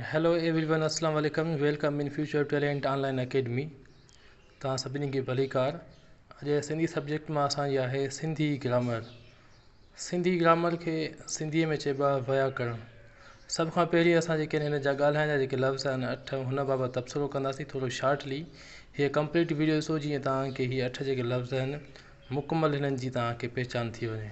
Hello everyone اسلام عليڪم welcome in future talent online academy توهان سڀني کي ڀليڪار اڄ سنڌي سبجيڪٽ مان اسان جي آهي سنڌي گرامر سنڌي گرامر کي سنڌي ۾ چئبو آهي وياڪرڻ سڀ کان پهرين اسان جيڪي آهن هن جا ڳالهائڻ جا جيڪي لفظ آهن اٺ هن بابت تبصرو ڪنداسين ٿورو شارٽلي هيء ڪمپليٽ ويڊيو ڏسو جيئن توهان کي هي اٺ جيڪي لفظ آهن مڪمل هنن جي توهان کي پهچان ٿي وڃي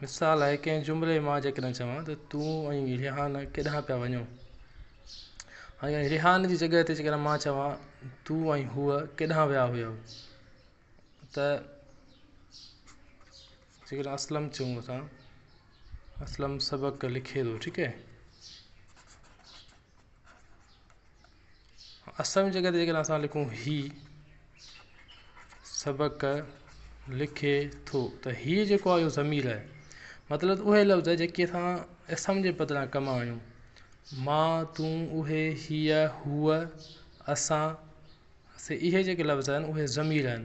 مثال لاء ڪنهن جملي مان جيڪڏهن چوان ته تون ۽ ريحان ڪيڏانهن پيا وڃو ۽ ريحان جي جڳهه تي جيڪڏهن مان چوان تون ۽ هوء ڪيڏانهن ويا هيو ته جيڪڏهن اسلم چئون اسان اسلم سبق لکي ٿو ٺيڪ هي اسم جي جڳهه تي جيڪڏهن اسان لکون هي سبق لکي ٿو ته هي جيڪو آهي اهو ضمير آهي مطلب ته اهي لفظ جيڪي اسان اسم جي بدران ڪم آڻيون مان تون اهي هيء هوء اسان سي اهي جيڪي لفظ آهن اهي ضمير آهن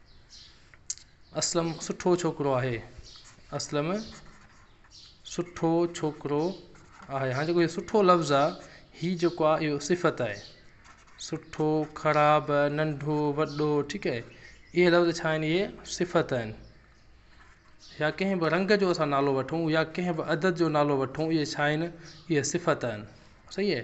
اسلم سٺو ڇوڪرو آهي اسلم سٺو ڇوڪرو آهي هاڻي جيڪو هي سٺو لفظ آ هي جيڪو آ اهو صفت آهي سٺو خراب ننڍو وڏو ٺيڪ آهي اهي لفظ ڇا آهن اهي صفت آهن يا ڪنهن به رنگ جو اسان نالو وٺون يا ڪنهن به عدد جو نالو وٺون اهي ڇا آهن اهي صفت آهن صحيح آهي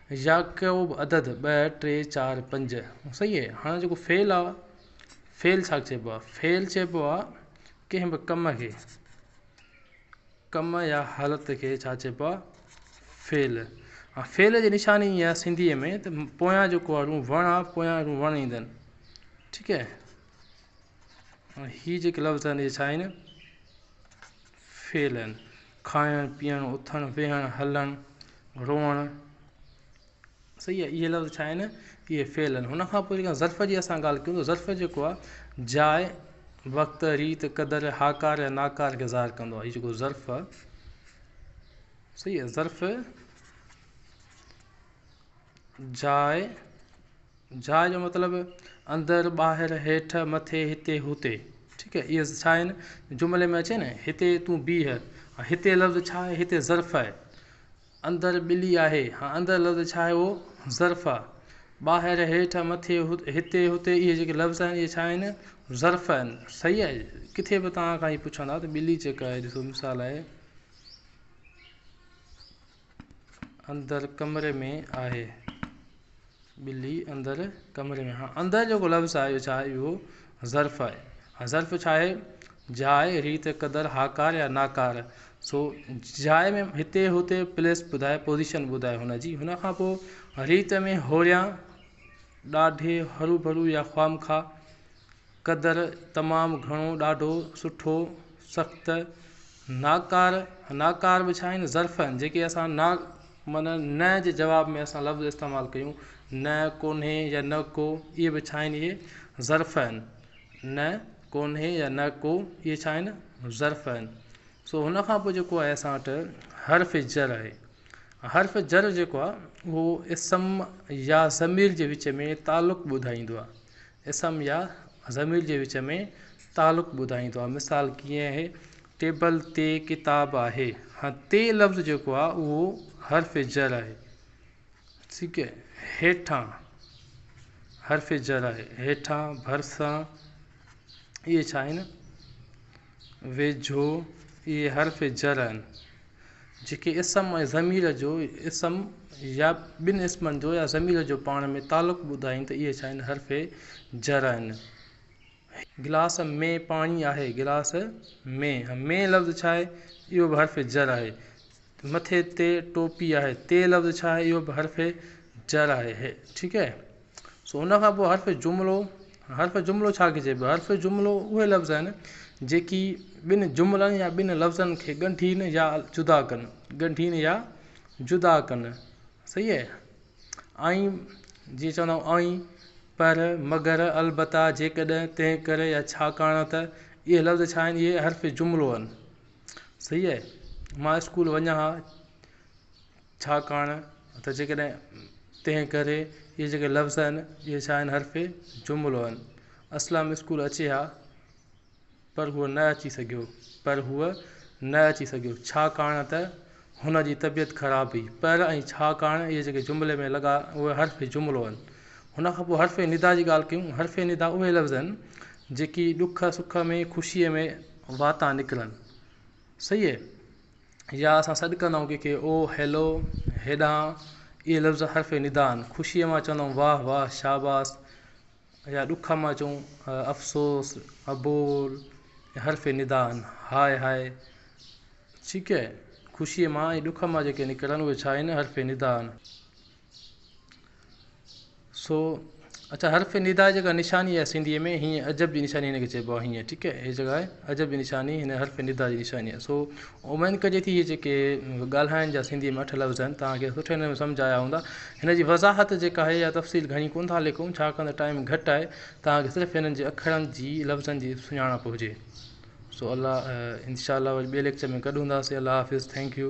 يعقوب عدد ٻه ٽي چار پنج صحيح اهي هاڻي جيڪو فعل آ فعل ڇا چئبو آ فعل چئبو آ ڪنهن به ڪم کي ڪم يا حالت کي ڇا چئبو آ فعل ها فعل جي نشاني اها سنڌي ۾ ته پويان جيڪو آ روح وڻ آ پويان روح وڻ ايندن ٺيڪ اهي جيڪي لفظ آهن اهي ڇا آهن فعلن، کائڻ، پيئڻ، اٿڻ، ويهڻ، هلڻ، روئڻ، صحيح آهي اهي لفظ ڇا آهن اهي فعل آهن ان کان پوء جيڪا ظرف جي اسان ڳالهه ڪيون ٿا ظرف جيڪو آهي جاء وقت ريت قدر هاڪار يا ناڪار کي ظاهر ڪندو آهي هي جيڪو ظرف آهي صحيح آهي ظرف جاء جاء جو مطلب اندر، ٻاهر، هيٺ، مٿي، هتي، هتي ٺيڪ اهي ڇا آهن جملي ۾ اچي نه هتي تون بيهه ۽ هتي لفظ ڇا آهي هتي ظرف آهي اندر ٻلي آهي ها اندر لفظ ڇا آهي اهو ظرف آهي ٻاهر هيٺ مٿي هتي هتي اهي جيڪي لفظ آهن اهي ڇا آهن ظرف آهن صحيح آهي ڪٿي به توهان کان هي پڇندا ته ٻلي جيڪا آهي ڏسو مثال آهي اندر ڪمري ۾ آهي. ٻلي اندر ڪمري ۾. اندر جيڪو لفظ آهي اهو ڇاهي اهو ظرف آهي ۽ ظرف ڇاهي جاء ريت قدر هاڪار يا ناڪار سو جاء ۾ هتي هتي پليس ٻڌائي پوزيشن ٻڌائي هن جي هن کان پوء ريت ۾ هوريان ڏاڍي هروڀرو يا خوامخواه قدر تمام گهڻو ڏاڍو سٺو سخت ناڪار ناڪار به ڇا آهن ظرف آهن جيڪي اسان نا من نه جي جواب ۾ اسان لفظ استعمال ڪيون نه ڪونهي يا نه ڪو اهي به ڇا آهن اهي ظرف آهن نه ڪونهي يا نه ڪو اهي ڇا آهن ظرف آهن سو هن کان پوء جيڪو آهي اسان وٽ حرف جر آهي حرف جر جيڪو آهي اهو اسم يا ضمير جي وچ ۾ تعلق ٻڌائيندو آهي اسم يا ضمير جي وچ ۾ تعلق ٻڌائيندو آهي مثال ڪيئن آهي ٽيبل تي ڪتاب آهي هاڻي تي لفظ جيڪو آهي اهو حرف جر آهي ٺيڪ آهي هيٺان حرف جر آهي هيٺان ڀرسان اهي ڇا آهن ويجهو اهي حرف جر آهن، جيڪي اسم ۽ ضمير جو، اسم يا ٻن اسمن جو يا ضمير جو پاڻ ۾ تعلق ٻڌائين ته اهي ڇا آهن؟ حرف جر آهن. هي. گلاس ۾ پاڻي آهي. گلاس ۾. ۾ لفظ ڇا آهي؟ اهو به حرف جر آهي. مٿي تي ٽوپي آهي. تي لفظ ڇا آهي؟ اهو به حرف جر آهي. هي. ٺيڪ آهي. سو ان کان پوء حرف جملو، حرف جملو ڇا کي چئبو آهي؟ حرف جملو اهي لفظ آهن جيڪي ٻن جملن يا ٻن لفظن کي ڳنڍين يا جدا ڪن، ڳنڍين يا جدا ڪن، صحيح آهي. ائين جيئن چوندا آهيون ائين، پر، مگر، البته، جيڪڏهن، تنهن ڪري يا ڇاڪاڻ ته اهي لفظ ڇا آهن؟ اهي حرف جملو آهن، صحيح آهي. مان اسڪول وڃان ها. ڇاڪاڻ ته جيڪڏهن تنهن ڪري اهي جيڪي لفظ آهن اهي ڇا آهن حرف جملو آهن اسلم اسڪول اچي ها پر هو نه اچي سگهيو پر هو نه اچي سگهيو ڇاڪاڻ ته هن جي طبيعت خراب هئي پر ۽ ڇاڪاڻ اهي جيڪي جملي ۾ لڳا اهي حرف جملو آهن هن کان پوء حرف ندا جي ڳالهه ڪيون حرف ندا اهي لفظ آهن جيڪي ڏک سک ۾ خوشيء ۾ واتان نڪرن سيئي! يا اسان سڏ ڪندائون ڪنهن کي او، هيلو، هيڏانهن، اهي لفظ حرف ندا آهن. خوشيء مان چوندائون واهه واهه، شاباس يا ڏک مان چئون افسوس، ابول، اهي حرف ندا آهن. هاء هاء، ڇيڪ، خوشيء مان ۽ ڏک مان جيڪي نڪرن اهي ڇا آهن؟ حرف ندا آهن. سو اچا حرف ندا جي جيڪا نشاني آهي سنڌي ۾ هيء عجب جي نشاني هن کي چئبو آهي هيء ٺيڪ هي جيڪا آهي عجب جي نشاني هن حرف ندا جي نشاني آهي سو اميد ڪجي ٿي هي جيڪي ڳالهائڻ جا سنڌي ۾ اٺ لفظ آهن توهان کي سٺي نموني سمجھ آيا هوندا هن جي وضاحت جيڪا آهي يا تفصيل گهڻي ڪون ٿا ليکون ڇاڪاڻ ته ٽائيم گهٽ آهي توهان کي صرف هنن جي اکرن جي لفظن جي سڃاڻپ هجي سو الله انشاء الله وري ٻئي ليڪچر ۾ گڏ هونداسين الله حافظ ٿينڪ يو